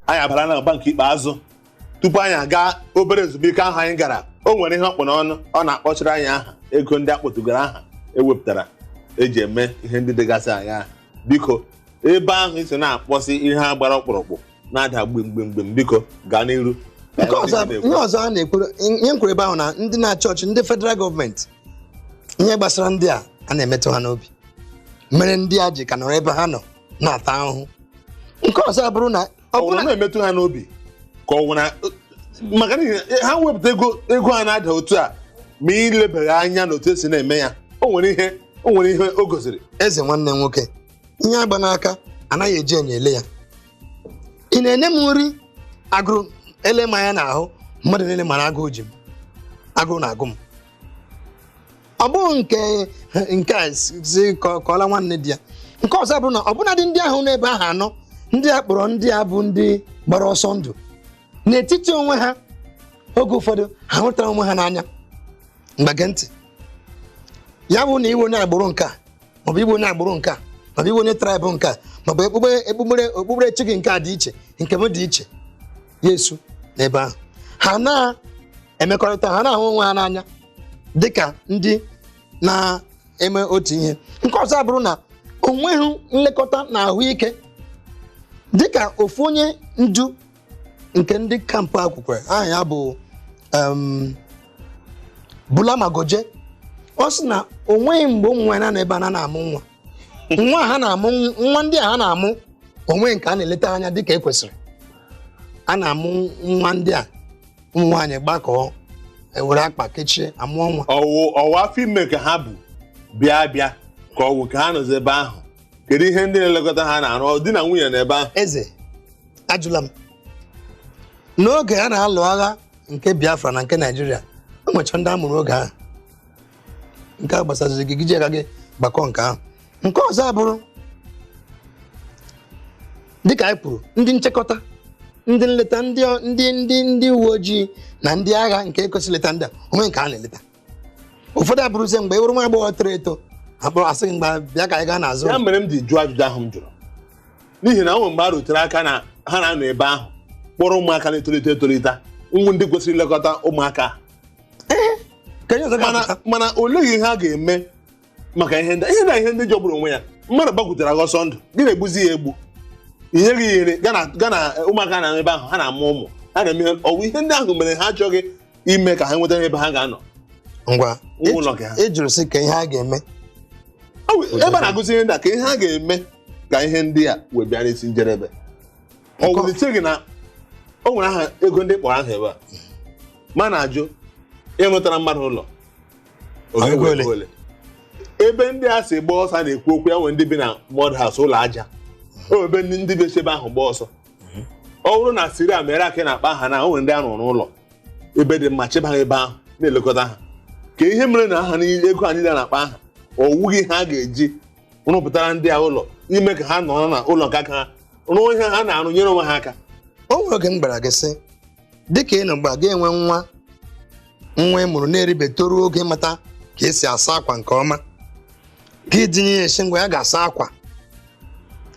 anyị abara n'agba nke ikpeazụ tupu anyị aga obere ezumike ahụ anyị gara o nwere ihe ọ kpụ n'ọnụ ọ na-akpọchiri anyị aha ego ndị a kpọtụgara aha ewepụtara eji eme ihe ndị dịgasị anya biko ebe ahụ i si na-akpọsị ihe a gbara ọkpụrụkpụ na-ada gbimgbimgbim biko gaa n'iru nke ọzọ ihe ọzọ a na-ekwuru ihe m kwuru ebe ahụ na ndị na-achị achị ndị federal gọọmenti ihe gbasara ndị a a na-emetụ ha n'obi mere ndị a ji ka nọrọ ebe ha nọ na-ata ahụhụ nke ọzọ abụrụ na ọ bụrụ na na-emetụ ha n'obi ka ọ na maka na ha wepụta ego ego a na-ada otu a ma ilebeghị anya na otu esi na-eme ya o nwere ihe o nwere ihe o gosiri eze nwanne nwoke ihe agba n'aka anaghị eji enyo ele ya ị na-enye m nri agụrụ ele m anya n'ahụ mmadụ niile mara agụụ ji m agụụ na-agụ m ọ bụghị nke nke a si si ka ọ- ka ọla nwanne di ya nke ọzọ abụrụ na ọbụnadị ndị ahụ n'ebe ahụ ha nọ ndị a kpọrọ ndị a bụ ndị gbara ọsọ ndụ n'etiti onwe ha oge ụfọdụ ha hụtara onwe ha n'anya mba gee ntị ya bụ na ị wụ onye agbụrụ nke a maọbụ ị wụ onye agbụrụ nke a maọbụ ị wụ onye traịbụ nke a maọbụ okpukpe okpukpere okpukperechi gị nke a dị iche nke m dị iche ya esi n'ebe ahụ ha na-emekọrịta ha na-ahụ onwe ha n'anya dị ka ndị na-eme otu ihe nke ọzọ abụrụ na o nweghị nlekọta na ahụike dị ka ofu onye ndu nke ndị kampụ a kwukwere aha ya bụ em, Bulama Goje ọ sị na o nweghị mgbe ụmụ nwaanyị na-anọ ebe a na na-amụ nwa nwa ha na-amụ nwa ndị a ha na-amụ o nweghị nke a na-eleta ha anya dịka e kwesịrị a na-amụ nwa ndị a ụmụ nwaanyị gbakọọ ewere akpa kechie amụọ nwa ọ wụ ọ wụ afọ ime ka ha bu bịa bịa ka ọ wụ ka ha nọzi ebe ahụ kedu ihe ndị na-elekọta ha na-arụ di na nwunye na ebe ahụ eze ajụla m n'oge a na-alụ agha nke biafra na nke naijiria o nwecha ndị a mụrụ oge ahụ nke a gbasaziri gị gị ji aka gị gbakọ nke ahụ nke ọzọ abụrụ dịka anyị kwuru ndị nchekọta ndị nleta ndị ndị ndị ndị uwe ojii na ndị agha nke kwesịrị ileta ndị a o nweghị nke ha na-eleta ụfọdụ abụrụzie mgbe ị wụrụ nwa agbọghọ toro eto a kpọrọ a sị gị ngwa bịa ka anyị gaa n'azụ ya mere m ji jụọ ajụjụ ahụ m jụrụ n'ihi na o nwere mgbe a rutere aka na ha na-anọ ebe ahụ kpọrọ ụmụaka na-etolite etolite wụ ndị kwesịrị ilekọta ụmụaka ka ihe ọzọ mana ga-apụta mana olee ihe ha ga-eme maka ihe ndị ihe na ihe ndị jọgburu onwe ya mmadụ gbakwutere gị ọsọ ndụ gị na-egbuzi ya egbu ihe gị yiri gana gana ụmụaka na ebe ahụ ha na-amụ ụmụ ha na-eme ọ wụ ihe ndị ahụ mere ha achọghị ime ka ha nweta ebe ha ga-anọ ngwa Ụmụ ụlọ gị ha. ị jụrụ sị ka ihe a ga-eme Ọ bụ ebe a na-agụzi ihe ndị a ka ihe ha ga-eme ka ihe ndị a wee bịa n'isi njedebe ọ Nkọ- wụlite gị na o nwere aha ego ndị kpọrọ aha ebe a ma na-ajụ ịrụtara mmadụ ụlọ Ọ Oge ga-ewe ole? ego ole? ebe ndị a si gba ọsọ a na-ekwu okwu ya nwere ndị bi na mud house ụlọ aja o ebe ndị ndị bi si ebe ahụ gba ọsọ ọ bụrụ na Syria mere aka ị na-akpọ aha na o nwere ndị a rụrụ n'ụlọ ebe dị mma chebe ha ebe ahụ na-elekọta ha ka ihe mere na aha niile ego ahụ niile a na-akpọ aha ọ wughị ha ga-eji rụpụtara ndị a ụlọ ime ka ha nọrọ na ụlọ nke aka ha rụọ ihe ha na-arụ nyere onwe ha aka o nwere oge m gwara gị sị dịka ị nọ ugbu a ga-enwe nwa nwa ị mụrụ na-eribe toruo oge mata ka e si asa akwa nke ọma gị dinye ya sị ngwa ya gaa saa akwa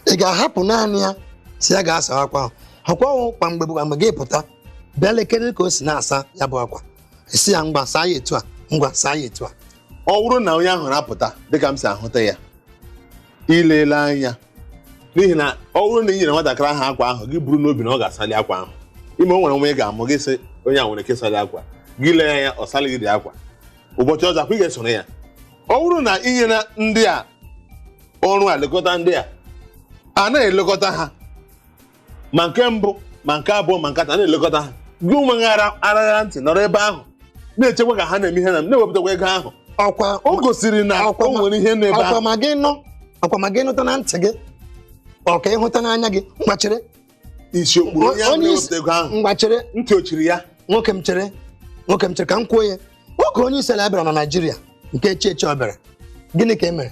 ị ga-ahapụ naanị ya sị ya gaa saa akwa ahụ ọkwa kwa mgbe kwa mgbe gị pụta bịa lekere ka o si na-asa ya bụ akwa sị ya ngwa saa ya etu a ngwa saa ya etu a ọ wụrụ na onye ahụ na-apụta dịka m si ahụta ya i leela anya n'ihi na ọ wụrụ na ị nyere nwatakịrị ahụ akwa ahụ gị buru n'obi na ọ ga-asali akwa ahụ ime o nwere nwa ị ga-amụ gị sị onye a nwere ike ịsali akwa gị lee ya anya ọ salịghị dị akwa ụbọchị ọzọ ọkwa ị ga-esoro ya ọ wụrụ na ị nyere ndị a ọrụ a lekọta ndị a a na-elekọta ha ma nke mbụ ma nke abụọ ma nke atọ a na-elekọta ha gị onwe gị ara arara ntị nọrọ ebe ahụ na-echekwa ka ha na-eme ihe na na-ewepụtakwa ego ahụ ọkwa o gosiri na Akwa o ma- nwere ihe n'ebe akwa ahụ ma gị nọ ọkwa ma gị nụta na ntị gị ọ ka ịhụta n'anya gị mgbachere isi okpuru onye ahụ onye isi na-ewepụta ego ahụ mgbachere ntị o chiri ya nwoke m chere nwoke m chere ka m kwuo ya oge onye isi ala bịara na Naịjirịa nke echi echi ọ bịara gịnị ka e mere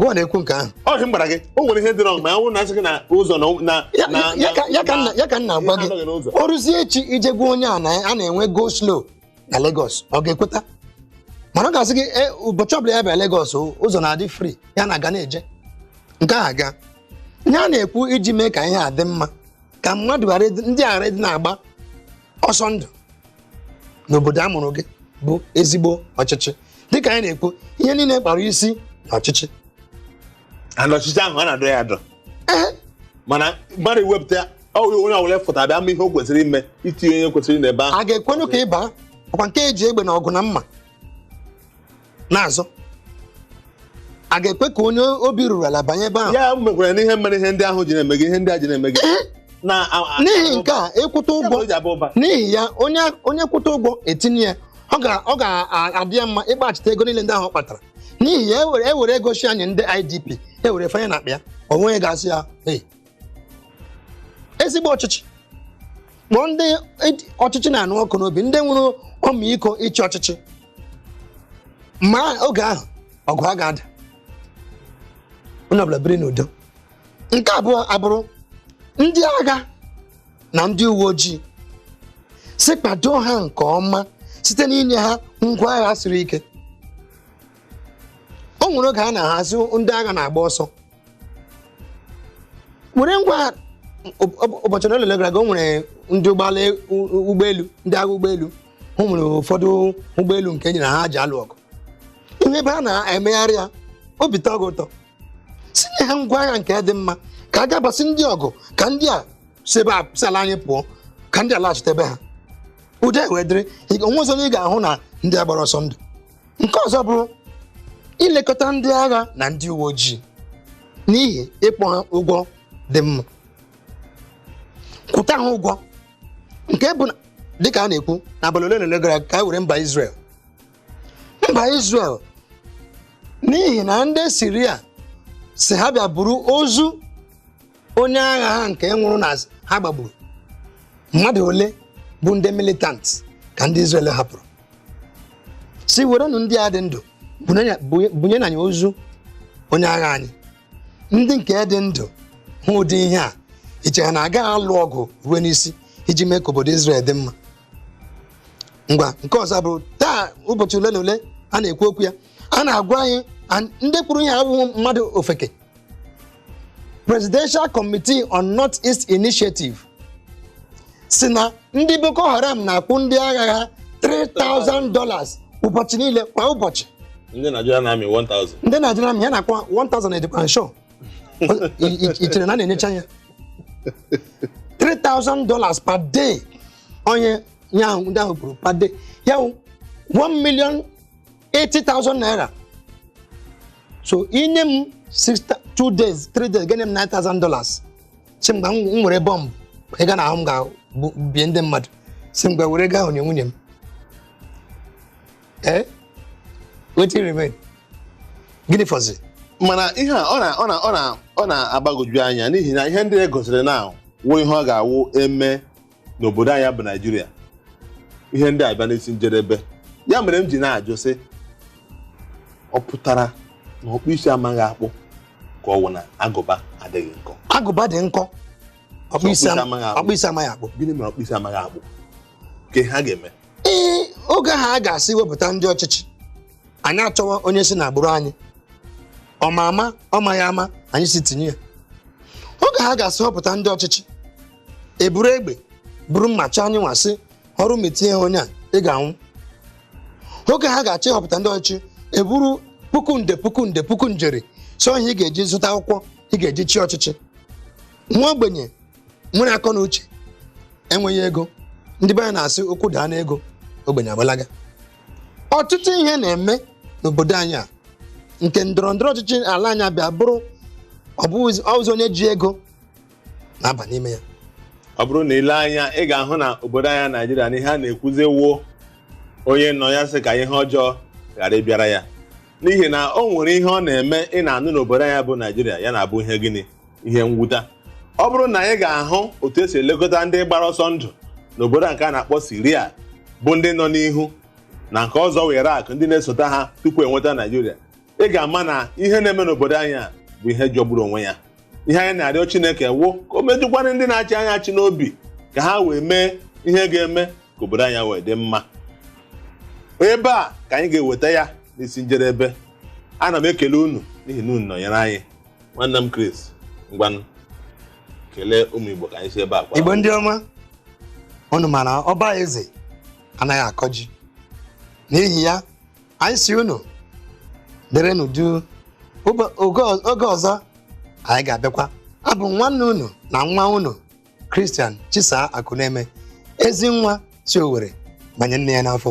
gị na-ekwu nke ahụ ọ dị m gbara gị o nwere ihe dị wrong ma ya wụrụ na a sị gị na ụzọ na na Ya- na- ya- ya ka- ya ka m na- ya ka m na-agwa ihe gị anọghị n'ụzọ. o ruzie echi i jee gwa onye a na a na-enwe go slow na Lagos ọ ga-ekweta mana ọ ga-asị gị "E, ụbọchị ọbụla ya bịa Lagos o, ụzọ na-adị free ya na-aga na-eje nke a ga ihe a na-ekwu iji mee ka ihe a dị mma ka mmadụ ghara ịdị- ndị ghara ịdị na-agba ọsọ ndụ n'obodo a mụrụ gị bụ ezigbo ọchịchị dịka anyị na-ekwu ihe niile kpara isi na ọchịchị ana ọchịchị ahụ a na-adọ ya adọ Ee, mana mmadụ ewepụta ọ wụrụ onye ọbụla fụta bịa mee ihe o kwesịrị ime itinye onye kwesịrị n'ebe ahụ a ga-ekwenụ ka ị baa ọkwa nke e ji egbe na ọgụ na mma na-azọ a ga-ekwe ka onye obi ruru ala banye ebe ahụ ya mekwara n'ihe mere ihe ndị ahụ ji na-eme gị ihe ndị a ji na-eme gị na n'ihi nke a ịkwụta ụgwọ ụgwọ ji abụ ụba n'ihi ya onye onye kwụta ụgwọ etinye ya ọ ga- ọ ga-adị ya mma ịgbachite ego niile ndị ahụ ọ kpatara n'ihi ya ewere ewere ego shi enye ndị idp ewere fanye n'akpa ya onwe ya ga-asị ya hey ezigbo ọchịchị kpọọ ndị ọchịchị na-anụ ọkụ n'obi ndị nwere ọmịiko ịchị ọchịchị ma oge ahụ ọgụ a ga-ada onye ọbụla biri n'udo nke abụọ abụrụ ndị agha na ndị uwe ojii si kpado ha nke ọma site n'inye ha ngwa agha siri ike o nwere oge a na-asị ndị agha na-agba ọsọ were ngwa ụbọchị ole gara aga o nwere ndị ụgbọelu ndị agha ụgbọelu o nwere ụfọdụ ụgbọelu nke e nyere ha ji alụ ọgụ ihe ebe a na-emegharị ya obi tọọ gị ụtọ si nye ha ngwa agha nke dị mma ka a gabasị ndị ọgụ ka ndị a si ebe a si ala anyị pụọ ka ndị a laghachite ebe ha udo wee dịrị onwe ọzọ ị ga-ahụ na ndị a gbara ọsọ ndụ nke ọzọ bụrụ ilekọta ndị agha na ndị uwe ojii n'ihi ịkwụ ha ụgwọ dị mma kwụta ha ụgwọ nke bụ na- dịka a na-ekwu n'abalị ole na ole gara aga ka e were mba Israel mba Israel n'ihi na ndị Siria sị ha bịa buru ozu onye agha ha nke nwụrụ na ha gbagburu mmadụ ole bụ ndị militant ka ndị Izrel hapụrụ sị werenụ ndị a dị ndụ bunyenụ anyị ozu onye agha anyị ndị nke dị ndụ hụ ụdị ihe a i che ha na agaghị alụ ọgụ ruo n'isi iji mee ka obodo Izrel dị mma ngwa nke ọzọ bụ taa ụbọchị ole na ole a na-ekwu okwu ya a na-agwa anyị and ndị kwuru ya abụghị mmadụ ofeke presidential committee on north east initiative sị na ndị boko haram na-akwụ ndị agha ha 3000 dollars ụbọchị niile kwa ụbọchị ndị nigerian army 1000 ndị nigerian army a na-akwụ 1000 edikwa nsho i chere na a na-enyecha ya 3000 dollars per day onye nye ahụ ndị ahụ kwuru per day ya wụ 1 million 80,000 naira so i nye m 2 days 3 days ga-enye m 9,000 dollars si mgbe m nwere bọmbụ ị ga n'ahụ m ga-bie ndị mmadụ si mgbe were gaa nye nwunye m ee eh? wetin remain gịnị fọzi mana ihe a ọ na-agbagoju anya n'ihi na ihe ndị e gosiri na wụ ihe ọ ga-awụ eme n'obodo anyị bụ naijiria ihe ndị a bịa n'isi njedebe ya mere m ji na-ajụ sị ọ pụtara na ọkpụ isi amaghị akpụ ka ọ wụ na agụba adịghị nkọ agụba dị nkọ ọkpụ isi ama- amaghị akpụ. ọkpụ isi amaghị akpụ gịnị mere ọkpụ isi amaghị akpụ ka ha ga-eme ee oge ha ga-asị wepụta ndị ọchịchị anyị achọwa onye si n'agbụrụ anyị ọ ma ama ọ maghị ama anyị sị tinye ya oge ha ga-asị wepụta ndị ọchịchị eburu egbe buru mma chọọ anyị na-asị ọ wụrụ ma i tinyeghị onye a ị ga-anwụ oge ha ga-achọ ịhọpụta ndị ọchịchị eburu puku nde puku nde puku njeri sị ọ ihe ị ga-eji zụta akwụkwọ ị ga-eji chịa ọchịchị nwa ogbenye nwere akọ na uche enweghị ego ndị be anyị na-asị okwu daa n'ego ogbenye agbalaga ọtụtụ ihe na-eme n'obodo anyị a nke ndọrọ ndọrọ ọchịchị ala anyị abịa bụrụ ọ bụzi onye ji ego na-aba n'ime ya ọ bụrụ na i lee anya ị ga-ahụ na obodo anyị naijiria na ihe a na-ekwuzi wụ onye nọ ya sị ka ihe ọjọọ ghara ịbịara ya n'ihi na o nwere ihe ọ na-eme ị na-anụ n'obodo anyị bụ naijiria ya na-abụ ihe gịnị ihe mwuta ọ bụrụ na ị ga-ahụ otu esi elekọta ndị gbara ọsọ ndụ n'obodo a nke a na-akpọ siria bụ ndị nọ n'ihu na nke ọzọ wụ irak ndị na-esota ha tupu enweta naijiria ị ga-ama na ihe na-eme n'obodo anyị a bụ ihe jọgburu onwe ya ihe anyị na-arịọ chineke wụ ka o metụkwara ndị na-achị anyị achị n'obi ka ha wee mee ihe ga-eme ka obodo anyị wee dị mma ebe a ka anyị ga-eweta ya n'isi njedebe ana m ekele unu n'ihi na unu nọnyere anyị nwanne m Chris ngwanụ kelee ụmụ Igbo ka anyị si ebe a kwaa igbo ndị ọma unu mara ọba eze anaghị akọ ji n'ihi ya anyị sị unu dịrị n'udo oge ọzọ anyị ga-abịakwa abụ m nwanne unu na nwa unu Christian Chisaa Akuneme ezi nwa si Owerri banye nne ya n'afọ